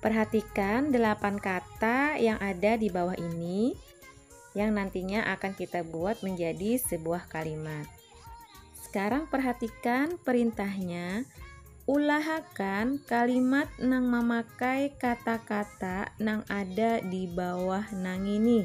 Perhatikan delapan kata yang ada di bawah ini yang nantinya akan kita buat menjadi sebuah kalimat. Sekarang perhatikan perintahnya. Ulahakan kalimat nang memakai kata-kata nang ada di bawah nang ini.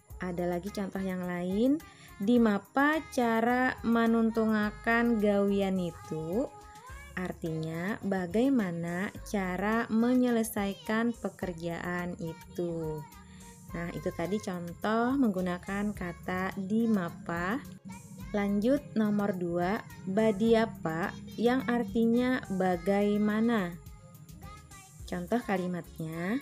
ada lagi contoh yang lain di mapa cara menuntungakan gawian itu artinya bagaimana cara menyelesaikan pekerjaan itu nah itu tadi contoh menggunakan kata di mapa lanjut nomor dua badiapa yang artinya bagaimana contoh kalimatnya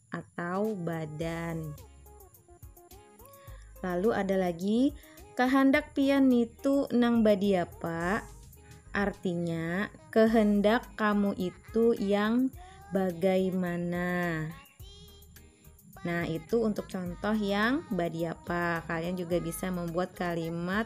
atau badan. Lalu ada lagi kahandak pian nitu nang badiapa? Artinya kehendak kamu itu yang bagaimana. Nah, itu untuk contoh yang badiapa. Kalian juga bisa membuat kalimat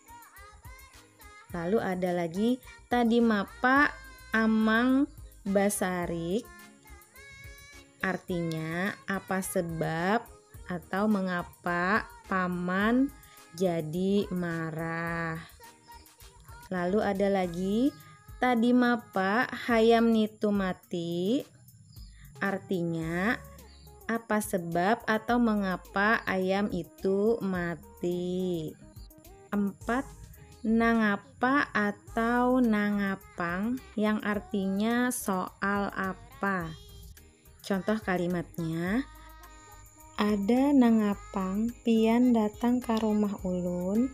Lalu ada lagi tadi mapa amang basarik artinya apa sebab atau mengapa paman jadi marah. Lalu ada lagi tadi mapa hayam nitu mati. Artinya, apa sebab atau mengapa ayam itu mati? 4. Nangapa atau nangapang yang artinya soal apa? Contoh kalimatnya, Ada nangapang pian datang ka rumah ulun?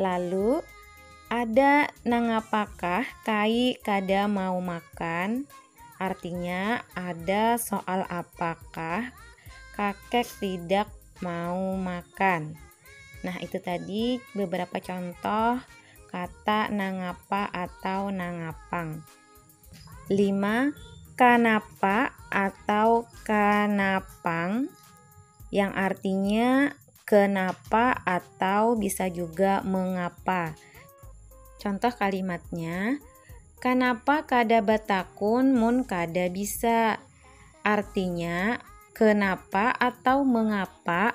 Lalu, ada nangapakah kai kada mau makan? Artinya, ada soal apakah kakek tidak mau makan. Nah, itu tadi beberapa contoh kata nangapa atau nangapang. 5. Kanapa atau kanapang yang artinya kenapa atau bisa juga mengapa. Contoh kalimatnya, Kanapa kada batakun mun kada bisa? Artinya, kenapa atau mengapa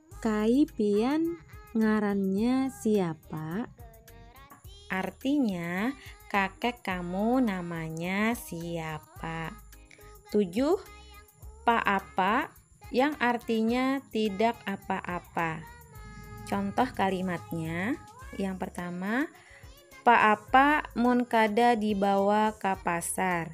Kai pian ngarannya siapa? Artinya, kakek kamu namanya siapa? tujuh. Pa'apa yang artinya tidak apa-apa. Contoh kalimatnya, yang pertama, Pa'apa mun kada dibawa ka pasar?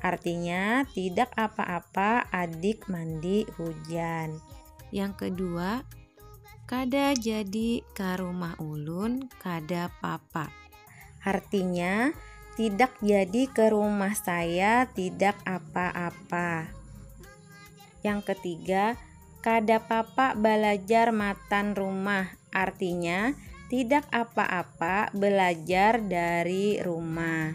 Artinya, tidak apa-apa adik mandi hujan. Yang kedua, kada jadi ka rumah ulun kada papa. Artinya, tidak jadi ke rumah saya tidak apa-apa. Yang ketiga, kada papa balajar matan rumah. Artinya, tidak apa-apa belajar dari rumah.